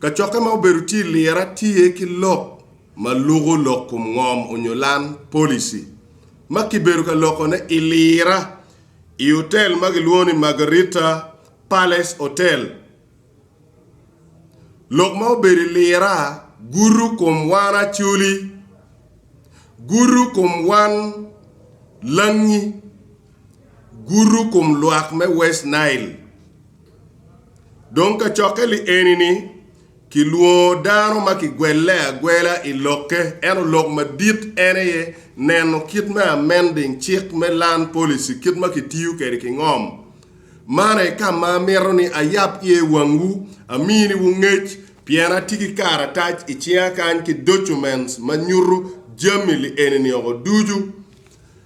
Kacokke ma obedo tye i lira tye ki lok ma luko lok kom ngom onyo lan, policy, ma kibedo ka loko ne i lira i otel ma gilwongo ni Margarita Palace Hotel. Lok ma obedo i lira guto kom wan Acholi, guto kom wan Langi, gudo kom lwak me West Nile. Dong kacokke li eni ni kilwongo dano ma kigwelle agwela i lokke, ento lok madit en aye neno kit me amending cik me land policy kit ma kitiyo kwede ki ngom. Man aye ka ma amito ni ayab iye wangwu, ami ni wungec, pien atye ki karatac i cinga kany ki documents ma nyuto jami li eni nio ducu.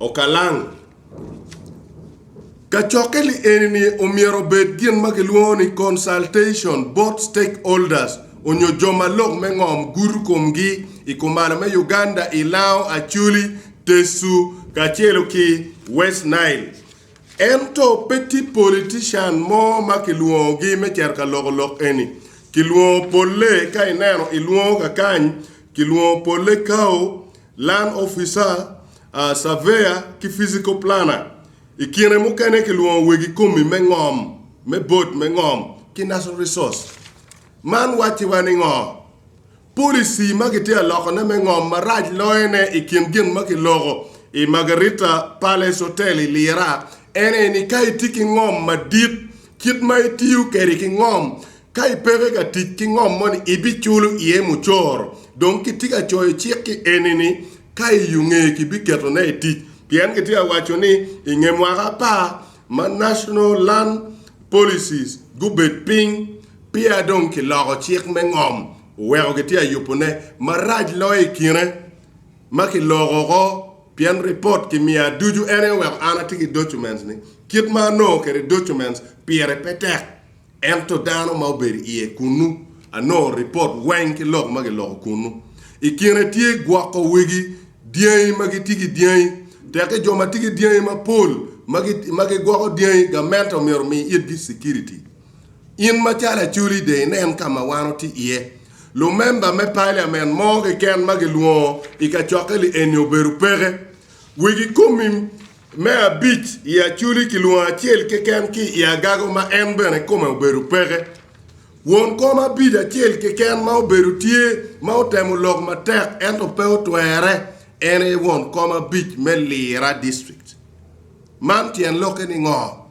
Okalang, Kacokke ni eni ni omyero obed gin ma gilwongo ni consultation both stakeholders onyo jo ma lok me ngom gutu komgi i kumalo me Uganda i Lao, Acholi, Tesu kacelu ki West Nile. Ento pe tye politician mo ma kilwongo gi me cito ka loko lok eni. Kilwongo polle ka ineno ilwongo kakany Kilwongo Polle Kao, Land Officer, Surveyor ki Physical Planner. I kine mukene kilwongo wegi komi me ngom me Board me Ngom ki National Resource. Man wacci wa ni ngo? Policy ma kitye ka lokone me ngom marac loye ne i kin gin ma kiloko i Margarita Palace Hotel i Lira en aye ni ka itye ki ngom madit kit ma itiyo kedi ki ngom Ka ipeke ka tic ki ngom moni ibiculo iye mucoro. Dong kitye ka coyo cik ki eni ni ka i unge kibiketo ne i tic pien kitye ka waco ni inge mwaka apar ma National Land Policies gubed piny peya dong kiloko cik me ngom oweko kitye ka yubo ne marac loyo ikine ma kiloko oko pien report kimiya ducu ene oweko an atye ki documents ni kit ma anongo kede documents pire pe tek Ento dano ma obedo iye kunnu anongo ripot weng ki lok ma giloko kunnu. I kine tye gwoko wegi dyangi ma gitye ki dyangi. Teke jo ma tye ki dyangi mapol ma gigwoko dyangi gamente omyero omi itgi cikiriti. In macalo acoli de inen ka ma wan watye iye. Lumemba me paliamen mo keken ma gilwongo i kacokke-li eni obedo peke. Wegi komi. Me abic i Acholi kilwongo acel keken ki i agago ma en bene kome obedo peke. Won kom abic acel keken ma obedo tye ma otemo lok matek ento pe otwere en aye won kom abic me Lira District. Man tyen lokke ni ngo?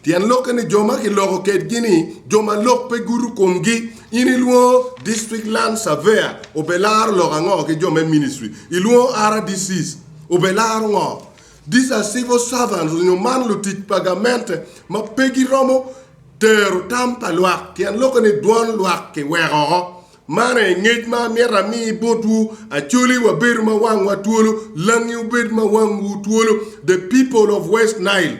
Tyen lokke ni jo ma kiloko kedgi ni jo ma lok pe guto komgi. In ilwongo District Land Surveyor obe laro lok ango ki jo me Ministry? Ilwongo RDCs obe laro ngo? These are civil servants nyo man lutic pa gamente ma pe giromo tero tam pa lwak. Tyen lokke ni dwon lwak kiweko oko. Man aye ngec ma amyero ami botwu, Acholi wabedo ma wangwa twolo, langi obed ma wangwu twolo, the people of West Nile.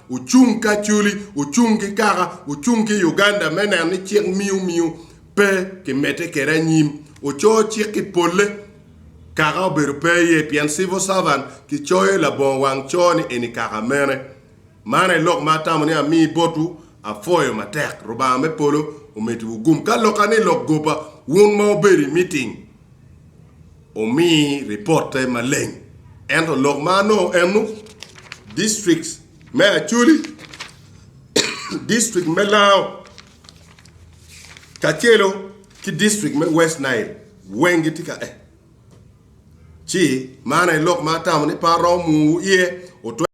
Ocung ki Acholi, ocung ki Kaka, ocung ki Uganda me neno ni cik miyo omiyo pe kimedde kwede anyim. Ocoyo cik i polle, Kaka obedo pe iye pien civil servant kicoyo i labongo wang coo ni eni Kaka mene. Man aye lok ma atamo ni ami botwu, apwoyo matek. Rubanga me polo omeddi wu gum. Ka lokka ni lok goba, wun ma wubedo i meeting. omi ripotte maleng, ento lok ma anongo enu, district me Acholi, district me Lango, kacelo ki district me West Nile weng gitye ka ee. Ci, man aye lok ma atamo ni pe aromo muwu iye.